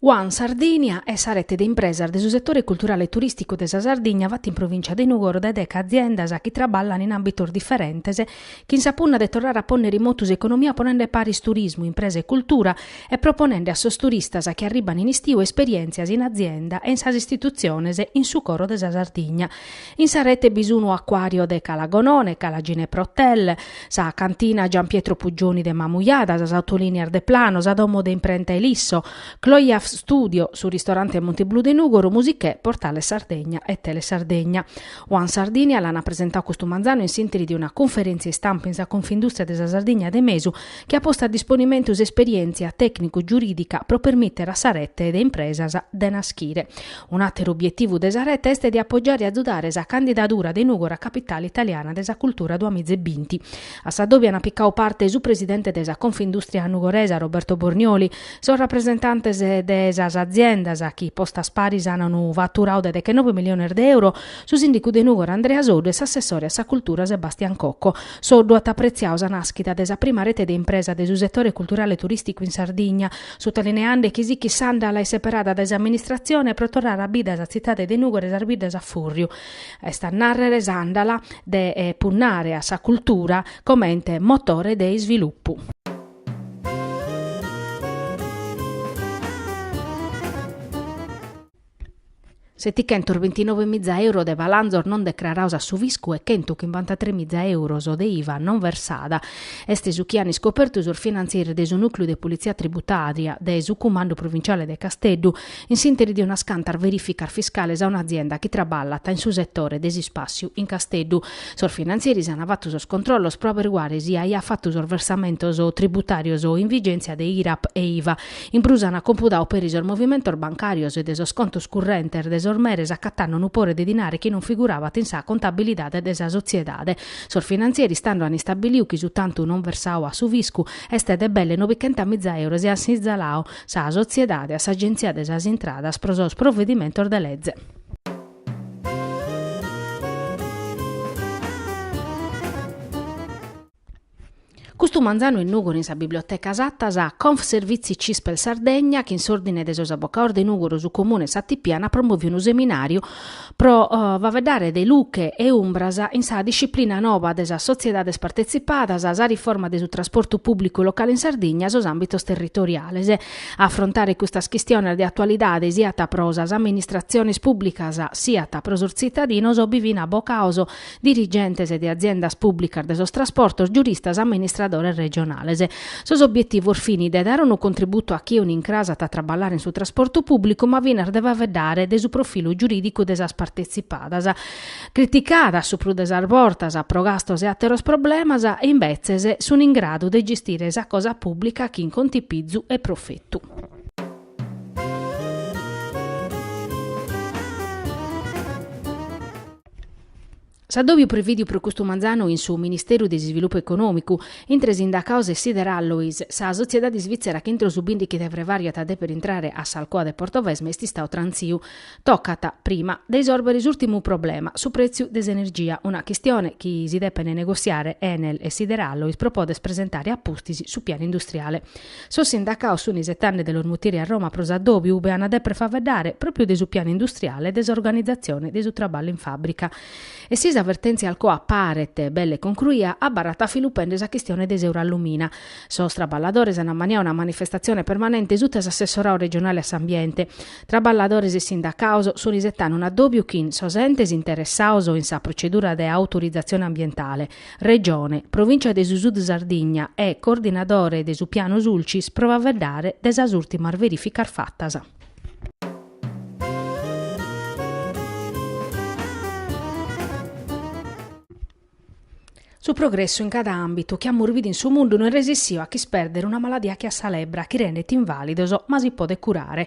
One Sardinia est sa rete de impresas de su setore culturale e turìsticu de sa Sardigna fata in provìncia de Nùgoro dae deche aziendas chi traballant in àmbitos diferentes chin sa punna de torrare a pònnere in motu s'economia ponende paris turismu, impresa e cultura e proponende a sos turistas chi arribban in istiu esperièntzias in azienda e in sas istitutziones in su coro de sa Sardigna. In sa rete bi sun Acquario de Cala Gonone, Cala Ginepra Hotel, sa Cantina Gian Pietro Puggioni de Mamujada, sas Autolinias Deplano, sa Domo de Imprenta Elisso, Cloyaf Studio, su Ristorante Montiblu de Nùgoro, Musichè, Portale Sardegna e Telesardegna. One Sardinia l'ant presentau custu manzanu in s'interi de una cunferèntzia istampa in sa Confindùstria de sa Sardigna de Mesu chi at postu a disponimentu s'esperièntzia tècnicu-giurìdica pro permìtere a sa rete de impresas de naschire. Un'àteru obietivu de sa rete est de apogiare e azudare sa candidadura de Nùgoro a capitale italiana de sa cultura duamiza e binti. A sa dòbia ant picau parte su presidente de sa Confindùstria nugoresa Roberto Bornioli, sos rapresentantes de sas aziendas chi postas paris an unu faturau de dechenove miliones de euro, su sìndicu de Nùgoro Andrea Soddu e s'assessore a sa cultura Sebastian Cocco. Soddu at apretziau sa nàschida de sa prima rete de impresas de su setore culturale turìsticu in Sardigna, sutalineende chi sighit s'àndala seperada dae s'amministratzione pro torrare a bida sa tzitade de Nùgoro e sas biddas a fùrriu. est a nàrrere s'àndala de punnare a sa cultura comente motore de isvilupu. Setichentos bintinove miza euro de balanzos non decrarados a su fiscu e chentu chimbantatres miza euros de iva non versada, est su chi an iscopertu sos finantzieris de su Nùcliu de Politzia Tributària de su Cumandu Provinciale de Casteddu, in s'interi de unas cantas verificas fiscales a un'azienda chi traballat in su setore de s'ispàssiu in Casteddu. Sos finantzeris ant fatu sos controllos pro averiguare si aiat fatu sos versamentos tributàrios in vigèntzia de IRAP e IVA. In prus ant compudadu peri sos movimentos bancàrios de sos contos currentes de sos meres acatande unu pore de dinare chi non figurabat in sa contabilidade de sa sotziedade. Sos finantzieris tando ant istabilidu chi su tantu non versadu a su fiscu est de belle nobichentamiza euro e ant sintzaladu sa sotziedade a s'Agenzia de sas Intradas pro sos provedimentos de leze. Custu manzanu in Nùgoro in sa Biblioteca Satta sa Confservizi Cispel Sardegna, chin s'Òrdine de sos Abocados de Nùgoro, su Comune e sa Tipi ant promòviu unu seminàriu Pro faeddare de luche e umbras in sa disciplina noba de sas sotziedades partetzipadas, sa riforma de su trasportu pùblicu locale in Sardigna, sos àmbitos territoriales. A afrontare custas chistiones de atualidade siat pro sas amministratziones pùblicas siat pro sos tzitadinos bi fin abocaos dirigentes de aziendas pùblicas de sos trasportos, giuristas, amministradores regionales. Sos obbietivos fin de dare unu contributu a chie un'incras at a traballare in su trasportu pùblicu ma finas de faeddare de su profilu giurìdicu de sas partetzipadas, criticadas su prus de sas bortas pro gastos e àteros problemas, e imbetzes sun in gradu de gestire sa cosa pùblica chin contipizu e profetu. S'addòbiu prevìdiu pro custu manzanu in su Ministeru de s'Isvilupu Econòmicu, intre sindacaos e Sider Alloys, sa sotziedade isvìtzera chi intro su bìndighi de frevàriu at a dèpere intrare a s'Alcoa de Portovesme est istau trantziu. Tocat, prima, de isòrbere s'ùrtimu problema, su prètziu de s'energia, una chistione chi si depent negotziare Enel e Sider Alloys pro poder presentare a pustis su pianu industriale. Sos sindacaos sun isetande de los mutire a Roma pro s'addòbiu ube an a dèpere faeddare pròpiu de su pianu industriale e de s'organizatzione de su traballu in fàbrica. E si sa vertèntzia Alcoa paret belle concruia, abarrat a filu pende sa chistione de s'Eurallumina. Sos traballadores an ammaniadu una manifestatzione permanente suta s'assessorau regionale a s'ambiente. Traballadores e sindacaos sun isetande un'addòbiu chin sos entes interessaos in sa procedura de autorizatzione ambientale. Regione, Provìncia de su Sud Sardigna e coordinadore de su Piano Sulcis pro faeddare de sas ùrtimas verìficas fatas. Su progressu in cada àmbitu chi amus bidu in su mundu no est resissiu a ch'ispèrdere una maladia che a sa lebbra chi rendet invàlidos ma si podet curare,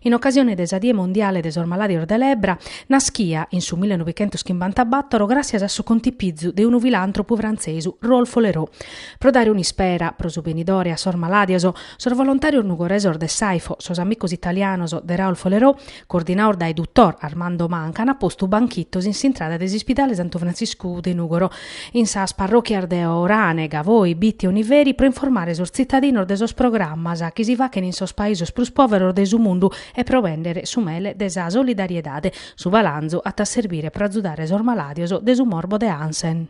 In ocasione de sa Die Mondiale de sos Malàdios de Lebbra, naschia, in su millenovichentoschimbantabàtoro, gràtzias a su contipizu de unu filàntropu frantzesu, Raoul Follereau. Pro dare un'ispera, pro su benidore, a sos malàdios, sos volontàrios nugoresos de s'AIFO, sos amicos italianos de Raoul Follereau, coordinados dae duttor Armando Manca, an postu banchitos in s'intrada de s'Ispidale Santu Frantziscu de Nùgoro, in sas parròchias de Orane, Gavoi, Bitti e Oniveri pro informare sos tzitadinos de sos programmas chi si fachent in sos paisos prus pòveros de su mundu e pro bèndere su mele de sa solidariedade. Su palanzu at a serbire pro azudare sos malàdios de su morbo de Hansen.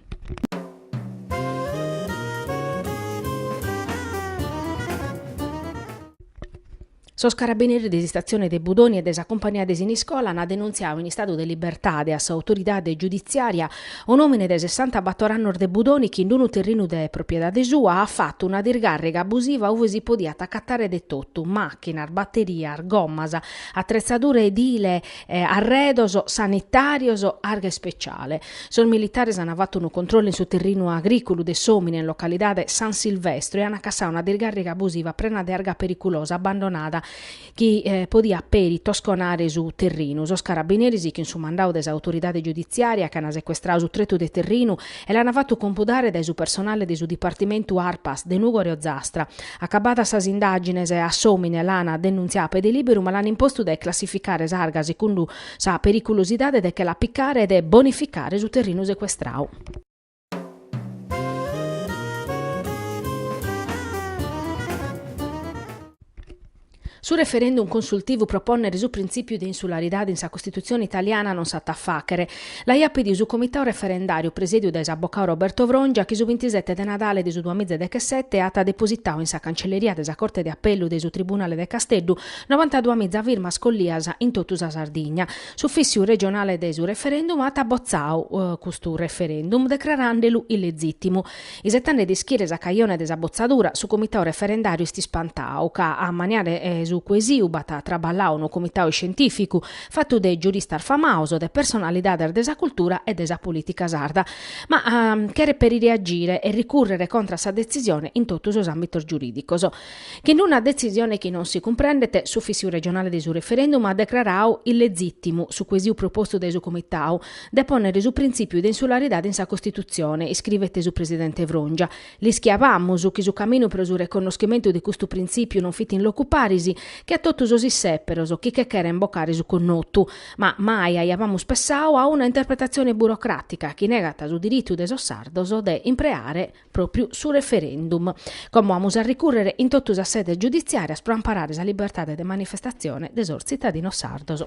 Sos carabineris de s'istatzione de Budoni e de sa cumpagnia de Siniscola ant denuntziau in istadu de libertade a s'autoridade giuditziària un'òmine de sessantabator annos de Budoni chi in unu terrinu de propiedade sua at fatu una discàrriga abusiva ube si podiat acatare de totu, màchinas, baterias, gommas, atretzadura edile arredos sanitàrios arga ispeciale. Sos militares ant fatu unu controllu in su terrinu agrìculu de s'òmine in localidade San Silvestro e ant cassadu una discàrriga abusiva prena de arga periculosa abbandonada chi podiat peri tosconare su terrinu. Sos carabineris chin su mandau de s'autoridade giuditziària ant secuestrau su tretu de terrinu e l'ant fatu compudare dae su personale de su dipartimentu Arpas de Nùgoro e Ozastra, Acabadas sas indàgines, a s'òmine l'ana denuntziau a pede lìberu ma l'an impostu de classificare s'arga sicundu sa periculosidade de che la picare e de bonificare su terrinu secuestrau. Su referendum consultivu pro pònnere su printzìpiu de insularidade in sa Costitutzione italiana non s'at a fàghere. L'aiat pedidu su Comitau Referendàriu presèdiu dae s'abocau Roberto Frongia chi su bintisete de Nadale de su duamiza e dechesete at depositau in sa cancelleria de sa Corte de Apellu de su Tribunale de Casteddu novantaduamiza firmas collias in totu sa Sardigna. S'Ufìssiu Regionale de su Referendum at botzau custu referendum decraràndelu illezìtimu. Isetande de ischire sa cajone de sa botzadura, su comitau referendàriu est ispantau ca a maniare su cuesitu b'at traballau unu comitau iscientìficu fatu de giuristas famaus, de personalidades de sa cultura e de sa polìtica sarda, ma cheret peri reagire e ricùrrere contra a sa detzisione in totu sos àmbitos giurìdicos. Chin una detzisione chi non si cumprendet, s'Ufìssiu regionale de su referendum at decrarau illezìtimu su cuesitu propostu dae su comitau, de pònnere su printzìpiu de insularidade in sa Costitutzione, iscrivet su presidente Frongia. L'ischiàbamus chi su caminu pro su reconnoschimentu de custu printzìpiu non fit in locu paris che a totu sos issèperos chi che cheren bocare su connotu. Ma mai aiàbamus pessau a una interpretatzione burocràtica chi negat su diritu de sos sardos de impreare pròpiu su referendum. Como amus a ricùrrere in totu sas sedes giuditziàrias pro amparare sa libertade de manifestatzione de sos tzitadinos sardos?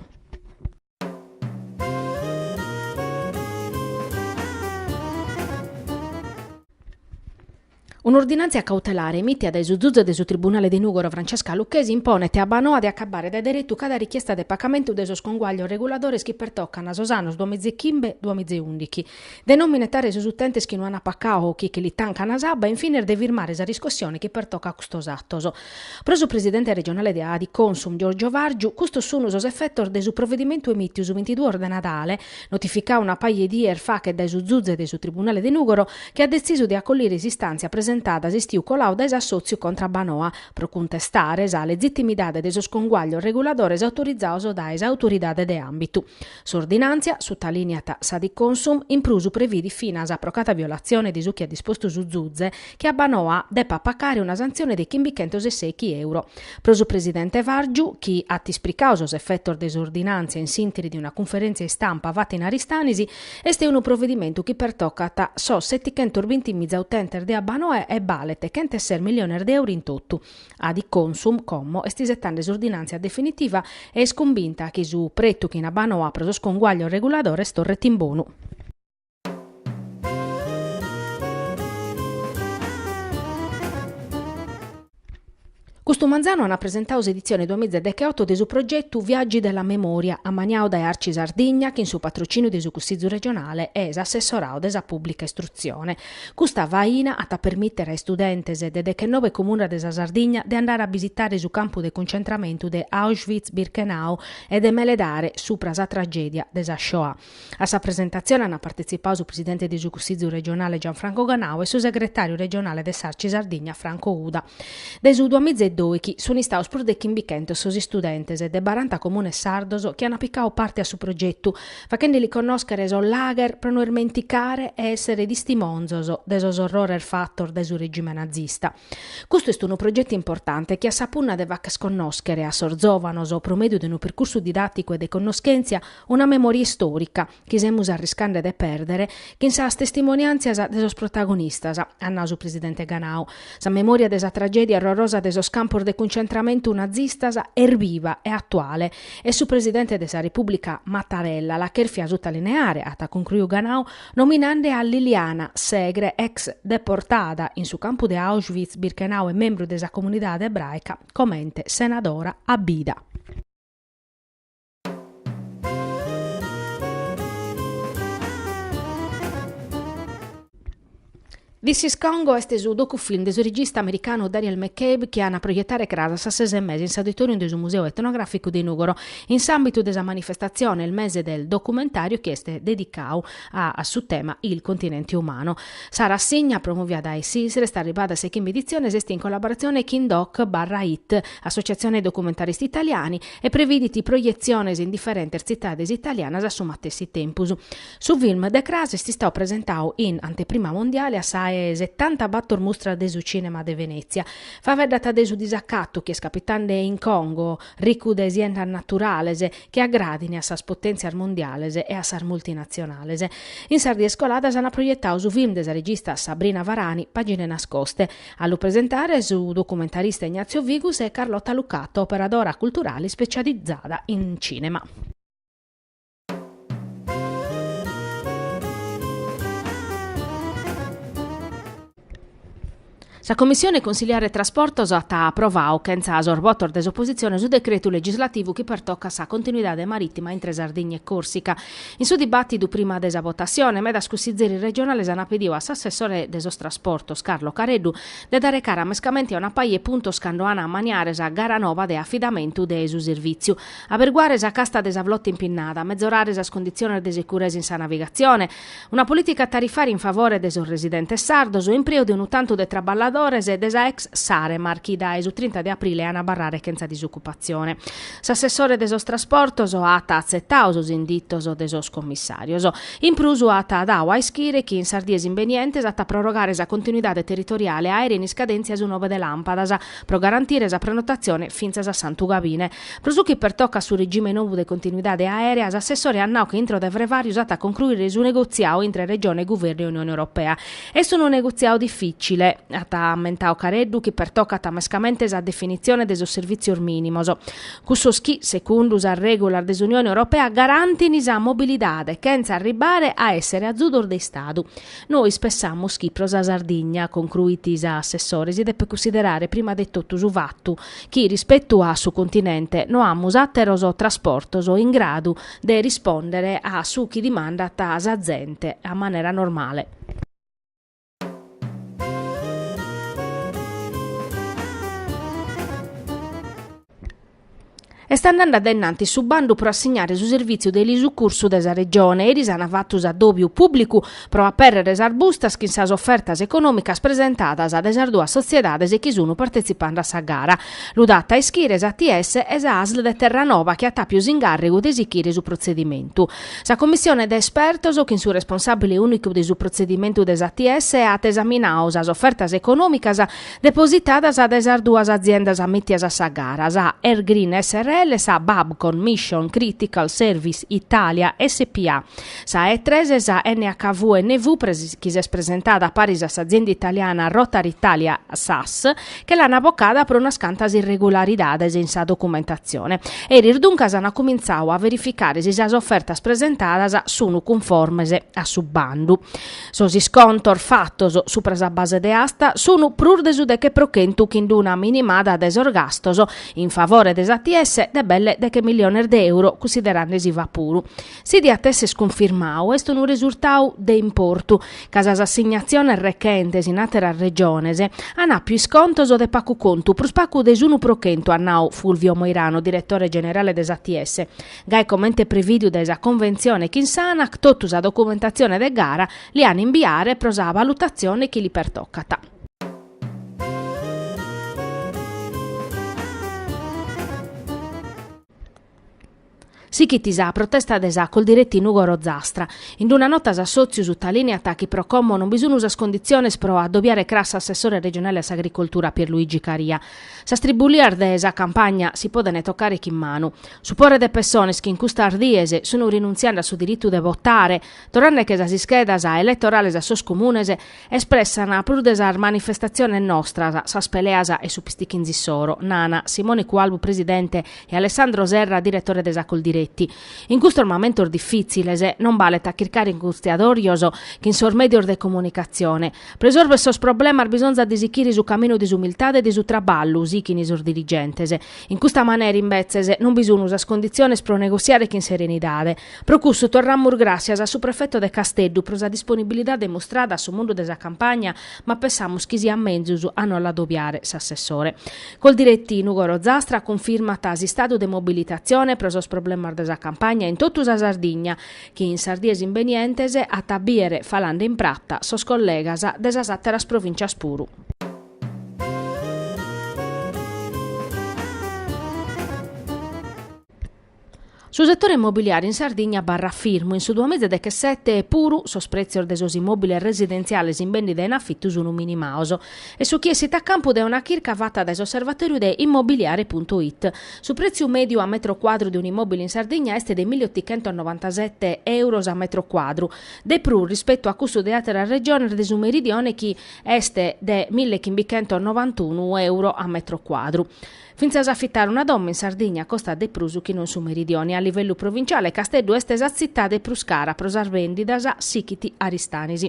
Un'ordinàntzia cautelare emìtia dae su zuze de su tribunale de Nùgoro Francesca Lucchesi imponet a Abbanoa de acabare dae deretu cada richiesta de pagamentu de sos conguaglios reguladores chi pertocant sos annos duamiza e chimbe-duamiza e ùndighi, de non minetare sos utentes chi no an pacau o chi che li tancana s'abba e in fines de firmare sa riscossione chi pertocat a custos atos. Pro su presidente regionale de Adiconsum Giorgio Vargiu custos sun sos efetos de su provedimentu emìtiu su bintiduos de Nadale, notificau una paja 'e dies fachet dae su zuze de su tribunale de Nùgoro chi at detzisu de acollire s'istàntzia presentada s'istiu colau dae s'assòtziu contra Abbanoa pro cuntestare sa lezitimidade de sos conguaglios reguladores autorizaos dae sa autoridade de àmbitu. S'ordinàntzia, sutalìniat s'Adiconsum, in prus previdit finas pro cada violatzione de su chi at dispostu su Zuze, chi Abbanoa depat pacare una santzione de chimbichentos e sèghi euro. Pro su presidente Vargiu, chi at ispricadu sos efetos de s'ordinàntzia in s'ìnteri de una cunferèntzia istampa fata in Aristanis, est unu provedimentu chi pertocat sos setichentos binti miza utentes de Abbanoa e balet chent'e ses milliones de euro in totu. Adiconsum, como, est isetende s'ordinàntzia definitiva e est cumbinta chi su pretu chin Abbanoa pro sos conguaglios reguladores torret in bonu. Custu manzanu an presentadu s'editzione duamiz e decheoto de su progetu Viaggi della memoria, ammaniadu dae Arci Sardigna chin su patrocìniu de su Cussìgiu regionale e s'assessoradu de sa pùblica istrutzione. Custa faina at a permìtere a istudentes de dechennove comunas de sa Sardigna de andare a bisitare su campu de cuncentramentu de Auschwitz-Birkenau e de meledare subra sa tragèdia de sa Shoah. A sa presentatzione ant partetzipadu su presidente de su Cussìgiu regionale Gianfranco Ganau e su segretàriu regionale de s'Arci Sardigna Franco Uda. Dae su duamiz e dòichi sunt istados prus de chimbichentos sos istudentes de baranta comunes sardos chi ant picadu parte a su progetu, faghendeli connòschere sos lager pro no ismenticare e èssere tistimonzos de sos orrores fatos dae su regime nazista. Custu est unu progetu importante chi at sa punna de fagher connòschere a sos zòvanos, pro mèdiu de unu percursu didàticu e de connoschèntzia, una memòria istòrica, chi semus arriscande de pèrdere chin sas testimoniàntzias de sos protagonistas, at nau su presidente Ganau. Sa memòria de sa tragèdia orrorosa de sos campos de cuncentramentu nazistas est biva e atuale. E su presidente de sa Repùblica Mattarella l'at cherfia sutalineare, at cuncruiu Ganau, nominande a Liliana Segre, ex deportada in su campu de Auschwitz-Birkenau e membru de sa comunidade ebràica, comente senadora a bida. This is Congo est su docufilm de su regista americanu Daniel McCabe chi an a proietare cras a sas ses e mesa in s'auditorium de su Museu Etnogràficu de Nùgoro in s'àmbitu de sa manifestatzione Il mese del documentario chi est dedicadu a su tema Il continente umano. Sa rassigna, promòvia dae s'Isre, est arribada a sa chimbe editzione e est in collaboratzione chin doc barra it, Associazione Documentaristi Italiani, e previdit projetziones in diferentes tzitades italianas a su matessi tempus. Su film de cras est istadu presentadu in anteprima mondiale a sa 'e setantabator Mustra de su Cinema de Venezia. Faeddat de su disacatu chi est capitende in Congo, ricu de siendas naturales, chi agradin a sas potèntzias mondiales e a sas multinatzionales. In sas dies coladas ant proietadu su film de sa regista Sabrina Varani, Pagine nascoste. A lu presentare su documentarista Ignazio Figus e Carlotta Lucato, operadora culturale specializzada in cinema. Sa Commissione Consigliare Trasportos at aprovadu chentza sos votos de s'opositzione su decretu legislativu chi pertocat sa continuidade marìtima intre Sardigna e Còrsica In su dibàtidu prima de sa votassione, medas cussizieris regionales ant pidiu a s'assessore de sos trasportos, Carlo Careddu, de dare cara mescamente a una paja 'e puntos cando an a maniare sa gara nova de afidamentu de su servìtziu, aberguare sa casta de sa flota impinnada, mezorare sas conditziones de securesa in sa navigatzione, Una polìtica tarifària in favore de sos residentes sardos e impreu de unu tantu de traballadores de sa ex Saremar chi dae su trinta de aprile an a abarrare chentza disocupatzione. S'assessore de sos trasportos at atzetadu sos inditos de sos commissàrios. In prus at dadu a ischire chi in sas dies imbenientes at a prorogare sa continuidade territoriale aèrea in iscadèntzia su nove de làmpadas pro garantire sa prenotatzione fintzas a Santu Gabine. Pro su chi pertocat su regime nou de continuidade aèrea, s'assessore at nau chi intro de frevàriu s'at a concruire su negotziadu intre Regione, Guvernu e Unione Europea. Est unu negotziadu difìtzile, at ammentadu Careddu, chi pertocat mescamente sa definitzione de sos servìtzios mìnimos, cussos chi, segundu sas règulas de s'Unione Europea, garantint sa mobilidade chentza arribbare a èssere azudos de Istadu. Nois pensamus chi pro sa Sardigna, concruit s'assessore, si depet cunsiderare prima de totu su fatu, chi rispetu a su continente no amus àteros trasportos in gradu de rispòndere a su chi dimandat sa zente a manera normale. Est andende a dennantis su bandu pro assignare su servìtziu de elisucursu de sa Regione eris an fatu s'adòbiu pùblicu pro apèrrere sas bustas chin sas ofertas econòmicas presentadas de sas duas sotziedades chi sun partetzipende a sa gara. Lu dat a ischire s'ATS e sa Asl de Terranova chi at àpiu s'ingàrregu de sichire su protzedimentu. Sa commissione de espertos, chin su responsàbile ùnicu de su protzedimentu de s'ATS, at esaminadu sas ofertas econòmicas, depositadas dae sas duas aziendas amìtias a sa gara, sa Airgreen srl e sa Babcock Mission Critical Services Italia SpA. Sa E-tres e sa NHV NV chi s'est presentada paris a s'azienda italiana Rotor Italia sas, che l'an bocada pro unas cantas irregularidades in sa documentatzione. Eris duncas an cumintzadu a verificare si sas ofertas presentadas sun cunformes a su bandu. Sos iscontos fatos supra sa base de asta sun prus de su deche pro chentu chin d'una minimada de sos gastos in favore de s'ATS de belle deche milliones de euro cussiderande s'IVA puru. Si diat esser cunfirmadu est unu resurtadu de importu ca sas assignaziones rechentes in àteras Regiones an àpiu iscontos de pagu contu, prus pagu de s'unu pro chentu, at nadu Fulvio Moirano, diretore generale de s'ATS. Gai comente prevìdiu dae sa Conventzione chin s'Anac totu sa documentatzione de gara li an imbiare pro sa valutatzione chi li pertocat. Sighit sa protesta de sa Coldiretti Nùgoro Zastra. In una nota s'assòtziu sutalìniat chi pro commo non bi sun sas conditziones pro adobiare cras s'assessore regionale a s'agricoltura Pierluigi Caria. Sas tribulias de sa campagna si podent tocare chin manu. Su pore de pessones chi in custas dies sun rinuntziende a su diritu de votare, torrende·che sas ischedas elettorales a sos comunes, espressan prus de sas manifestatziones nostras sas peleas e su pistichinzu issoro, nana Simone Cualbu presidente e Alessandro Serra diretore de sa Coldiretti. In custos mamentos diffitziles non balet a chircare inghistiadorios chin sos medios de comunicatzione, Pro isorver sos problemas bisonzat de sichire su caminu de s'umiltade e de su traballu, sighint sos dirigentes. In custa manera, imbetzes, non bi sun sas conditziones pro negossiare chin serenidade. Pro cussu torramus gràssias a su prefetu de Casteddu pro sa disponibilidade mustrada a su mundu de sa campagna, ma pessamus chi siat menzus a no l'adobiare s'assessore. Coldiretti Nùgoro Zastra cunfirmat s'istadu de mobilitatzione pro sos problemas de sa campagna in totu sa Sardigna, chi in sas dies imbenientes at a bìere falende in prata sos collegas de sas àteras provìntzias puru. Su setore immobiliare in Sardigna abarrat firmu in su duamiza e dechesete puru, sos prètzios de sos immòbiles residentziales in bèndida e in afitu sunt minimados. Est su chi essit a campu dae una chirca fata dae s'osservatòriu de Immobiliare puntu it. Su prètziu mèdiu a metro cuadru de un'immòbile in Sardigna est de milli otichentos novantasete èuros a metro cuadru, de prus rispetu a cussu de àteras Regiones de su Meridione chi est de milli chimbichentos novantunu èuro a metro cuadru. Fintzas a afitare una domo in Sardigna costat de prus chi no in su Meridione. A livellu provinciale Casteddu est sa tzitade prus cara pro sas bèndidas, sighit Aristanis.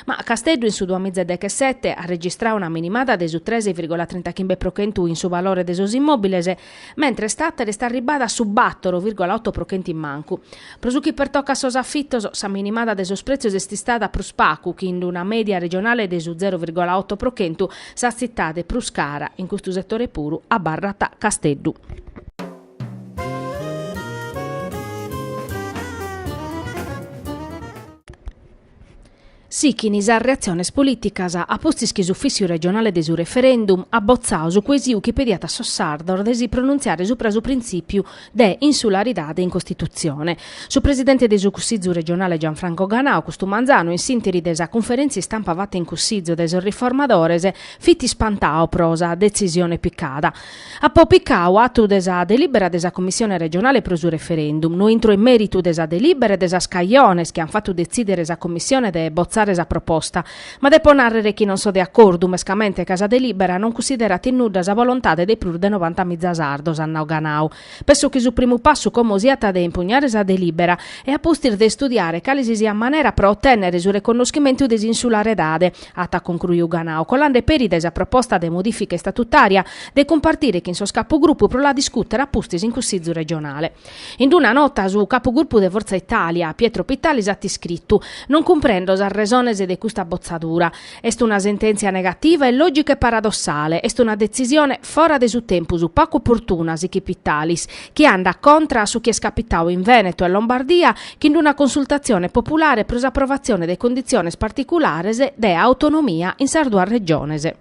Ma Casteddu in su duamiza e dechesete at registradu una minimada de su tres virgola trintaghimbe pro chentu in su valore de sos immòbiles, mentres Tattari est arribbada a su bator virgola oto pro chentu in mancu. Pro su chi pertocat sos afitos, sa minimada de sos prètzios est istada prus pagu chin una mèdia regionale de su zero virgola oto pro chentu, sa tzitade prus cara in custu setore puru, abarrat Casteddu. Sichin sas reatziones polìticas a pustis chi s'Ufìssiu regionale de su referendum at botzadu su cuesiu chi pediat a sos sardos de si pronuntziare subra su printzìpiu de insularidade in Costitutzione. Su presidente de su Cussizu regionale Gianfranco Ganau custu manzanu in s'ìnteri de sa cunferèntzia istampa fata in Cussizu de sos riformadores fit ispantadu pro sa detzisione picada Apo picau atu de sa delibera de sa Commissione regionale pro su referendum. No intro in meritu de sa delibera e de sas cajones chi an fatu detzidere sa Commissione de botzare sa proposta, ma depo narrere chi non so de acordu mescamente ca sa delibera non cussiderat in nudda sa volontade de prus de novanta miza sardos, at nau Ganau. Penso chi su primu passu como siat de impugnare sa delibera e a pustis de istudiare cale si siat manera pro otennere su reconnoschimentu de s'insularedade. at concruiu Ganau, colande peri dae sa proposta de modifica istatutària de cumpartire chin sos capugrupu pro la discùtere a pustis in Cussizu regionale. In una nota su capugrupu de Fortza Itàlia, Pietro Pittalis at iscritu, Non cumprendo sas resones de custa botzadura. Est una sentèntzia negativa, illògica e paradossale. Est una detzisione fora de su tempus, pacu oportuna, sichit Pittalis, chi andat contra a su chi est capitadu in Vènetu e Lombardia chin d'una consultatzione populare pro s'aprovatzione de conditziones particulares de autonomia in sas duas regiones.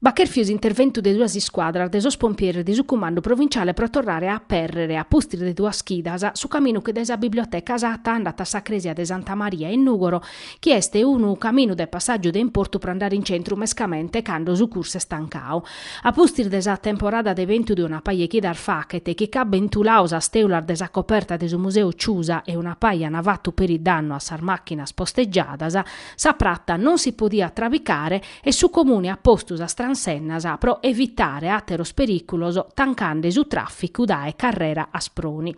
B'at chèrfiu s'interventu de duas iscuadras de sos pompieres de su Cumandu Provinciale pro torrare a apèrrere, a pustis de duas chidas, su caminu chi dae sa Biblioteca Satta andat a sa crèsia de Santa Maria in Nùgoro chi est unu caminu de passàgiu de importu pro andare in centru mescamente cando su cursu est tancadu. A pustis de sa temporada de bentu de una paja 'e chidas fachet chi ch'at bentuladu sas tèulas de sa coperta de su museu Ciusa e una paja an fatu peri dannu a sas màchinas postegiadas, sa prata non si podiat trabicare, e su Comune at postu sas transennas pro evitare àteros perìculos tancande su tràficu dae Carrera Asproni.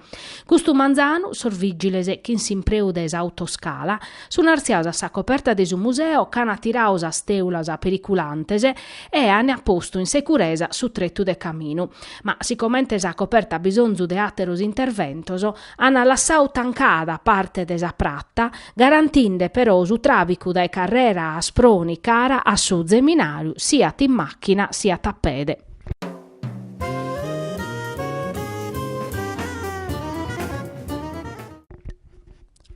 Custu manzanu sos vìgiles, chin s'impreu de s'autoscala, sun artziados a sa coperta de su museo, ch'an tiradu sas tèulas periculantes e an postu in securesa su tretu de caminu. Ma si comente sa coperta at bisonzu de àteros interventos, an lassadu tancada parte de sa prata, garantinde però su tràficu dae Carrera Asproni cara a su Zeminàriu siat in màchina siat a pede.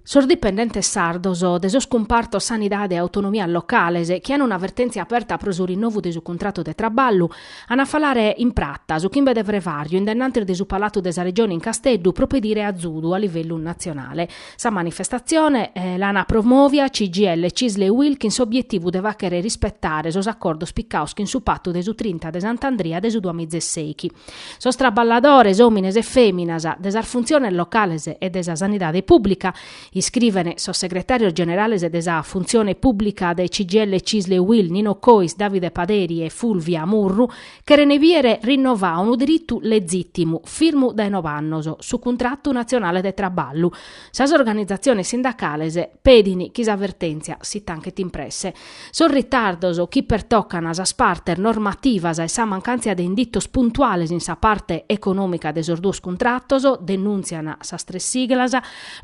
Sos dipendentes sardos de sos cumpartos Sanidade e Autonomias Locales, chi an una vertèntzia aperta pro su rinnovu de su cuntratu de traballu, an a falare in prata, su chimbe de frevàriu, in dennantis de su Palatu de sa Regione in Casteddu pro pedire azudu a livellu natzionale. Sa manifestatzione l'an promovia CGIL Cisl e Uil chin s'obietivu de fàghere rispetare sos acordos picados chin su Patu de su trinta de Sant'Andria de su duamizeseis chi sos traballadores, òmines e fèminas, de sas funtziones locales e de sa sanidade pùblica, iscriven sos segretàrios generales de sa Funtzione Pùblica de CGIL Cisl e Uil, Nino Cois, Davide Paderi e Fulvia Murru, Cheren bìere rinnovau unu diritu legìtimu, firmu dae nove annos, su cuntratu natzionale de traballu. Sas organizatziones sindacales pedin chi sa vertèntzia si tanchet in presse. Sos ritardos chi pertocan sas partes normativas e sa mancàntzia de inditos puntuales in sa parte econòmica de sos duos cuntratos, denùntzian sas tres siglas,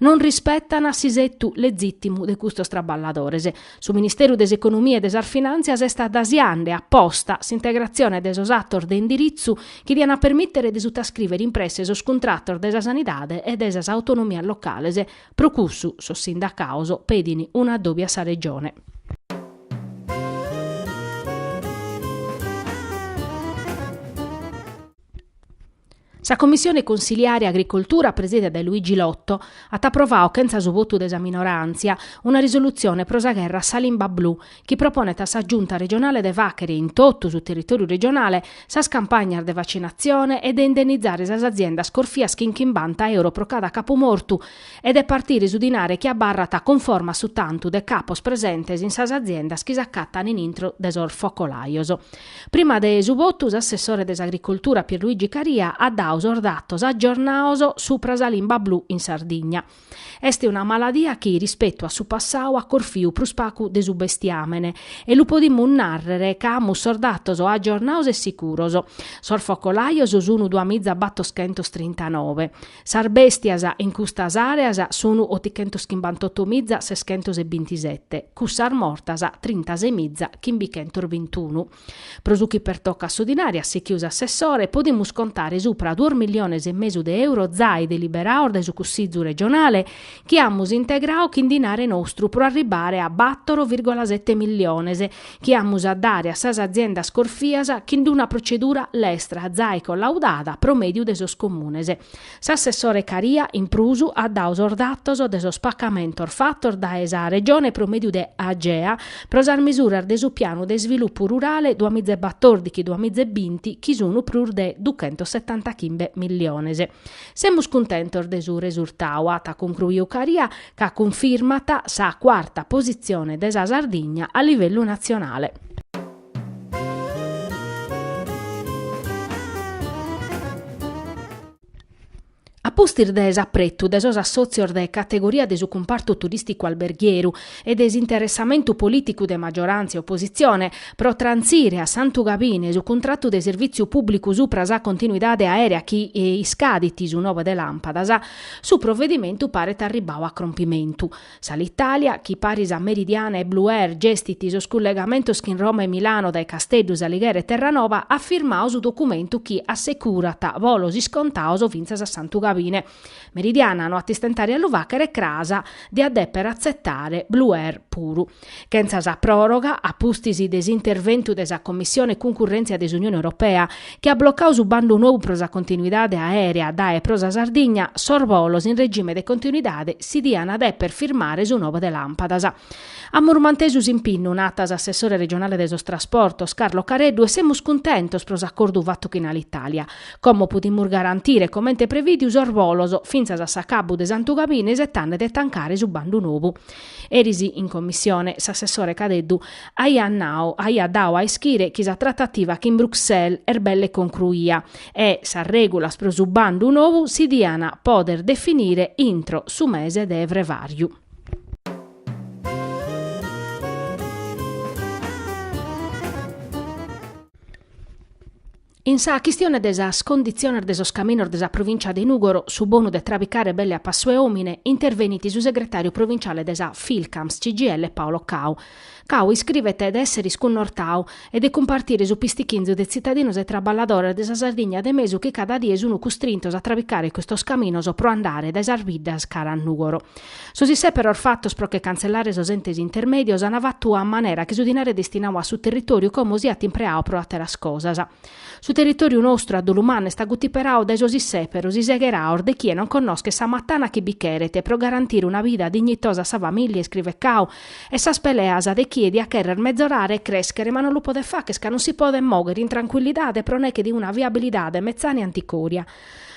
non rispetan s'isettu legìtimu de custos traballadores. Su Ministeru de s'Economia e de sas Finantzias est adasiande a posta s'integratzione de sos atos de indiritzu chi dian a permìtere de sutascrìvere in presse sos cuntratos de sa sanidade e de sas autonomias locales. Pro cussu, sos sindacados pedin un'addobi a sa Regione. Sa Commissione Consiliare Agricoltura presida dae Luigi Lotto at aprovadu chentza su votu de sa minoràntzia una risolutzione pro sa gherra a sa limba blu chi proponet a sa Giunta regionale de fàghere in totu su territòriu regionale sas campagnas de vacinatzione e de indennizare sas aziendas corfias chin chimbanta euro pro cada capu mortu e de partire su dinare chi abarrat cunforma a su tantu de capos presentes in sas aziendas chi s'acatant in intro de sos focolajos. Prima de su votu s'assessore de s'Agricoltura Pierluigi Caria at dadu sos datos aggiornados supra sa limba blu in Sardigna. Est una maladia chi, rispetu a su passadu, at corfiu prus pagu de su bestiamene e lu podimus narrere ca amus sos datos aggiornados e sicuros. Sos focolajos sun duamiza battoschentos trintanove. Sas bèstias in custas àreas sun otichentos chimbantoto miza seschentos e bintisete, cussas mortas trintasei miza chimbichentos bintunu. Pro su chi pertocat su dinare, at sichiu s'assessore, podimus contare supra duos milliones e mesu de euro zai deliberados dae su Cussizu regionale, chi amus integradu chin dinare nostru pro arribare a battor virgola sete milliones, chi amus a dare a sas aziendas corfias chin d'una procedura lestra zai collaudada pro mediu de sos comunes. S'assessore Caria, in prus, at dadu sos datos de sos pacamentos fatos dae sa Regione pro mediu de Agea pro sas mesuras de su pianu de isvilupu rurale duamiza e batordichi-duamiza e binti chi sun prus de duchentosetantachimbe milliones. Semus cuntentos de su resurtadu, at concruiu Caria, ca cunfirmat sa cuarta positzione de sa Sardigna a livellu natzionale. A pustis de s'apretu de sos assòtzios de categoria de su cumpartu turìsticu alberghieru e de s'interessamentu polìticu de maggioràntzia e opositzione pro trantzire a Santu Gabine su cuntratu de servìtziu pùblicu supra sa continuidade aèrea chi iscadit su nove de làmpadas, Su provedimentu paret arribbau a crompimentu. S'Alitalia, chi paris a Meridiana e Blue Air gestit sos cullegamentos chin Roma e Milano dae Casteddu, S'Alighera e Terranova, at firmau su documentu chi assecurat bolos iscontaos fintzas a Santu Gabine. Meridiana no at istentare a lu facher e cras diat deper atzetare Blue Air puru. chentza sa pròroga a pustis de s'interventu de sa Commissione Cuncurrèntzia de s'Unione Europea, chi at blocau su bandu novu pro sa continuidade aèrea dae e pro sa Sardigna, sos bolos in regime de continuidade si diant dèpere firmare su nove de làmpadas. Amus mantesu s'impinnu, nat s'assessore regionale de sos trasportos, Carlo Careddu, e semus cuntentos pro s'acordu fatu chin Alitalia. Como podimus garantire, comente prevìdiu, sos bolos fintzas a s'acabbu de Santu Gabine isetande de tancare su bandu nou? Eris in commissione s'assessore Careddu aiat nau, aiat dau a ischire chi sa tratativa chin Bruxelles est belle concruia e sas regulas pro su bandu novu si dian poder definire intro su mese de frevariu. In sa chistione de sas conditziones de sos caminos de sa provìncia de Nùgoro, su bonu de trabicare belle a passu 'e òmine, intervenit su segretàriu provinciale de sa Filcams CGIL, Paolo Cao. Cao iscrivet de èssere iscunnortau e de cumpartire su pistichinzu de tzitadinos e traballadores de sa Sardigna de mesu chi cada die sunt custrintos a trabicare custos caminos pro andare dae sas biddas cara a Nùgoro. Sos isseperos fatos pro che cantzellare sos entes intermèdios an fatu a manera chi su dinare destinau a su territòriu como siat impreau pro àteras cosas. Su territòriu nostru a dolu mannu est agutiperau dae sos isseperos isegheraos de chie non connoschet sa matana chi bi cheret pro garantire una bida dignitosa a sa famìllia, iscrivet Cao, e sas peleas de chie diat chèrrere mezorare e crèschere ma non lu podet facher ca non si podet mòghere in trancuillidade pro neche 'e una viabilidade metzana e anticòria.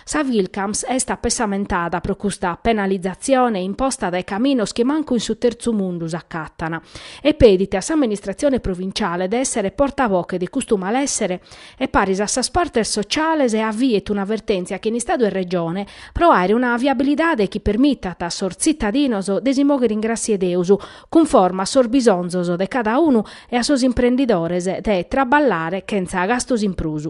Sa Filcams est apessamentada pro custa penalizatzione imposta dae caminos chi mancu in su terzu mundu s'acatant e petit a s'amministratzione provinciale de èssere portavoche de custu malèssere e paris a sas partes sotziales e aviet una vertèntzia chin Istadu e Regione pro àere una viabilidade chi permitat a sos tzitadinos de si mòghere in gràssia 'e Deus cunforma a sos bisonzos de cada unu e a sos imprendidores de traballare chentza gastos in prus.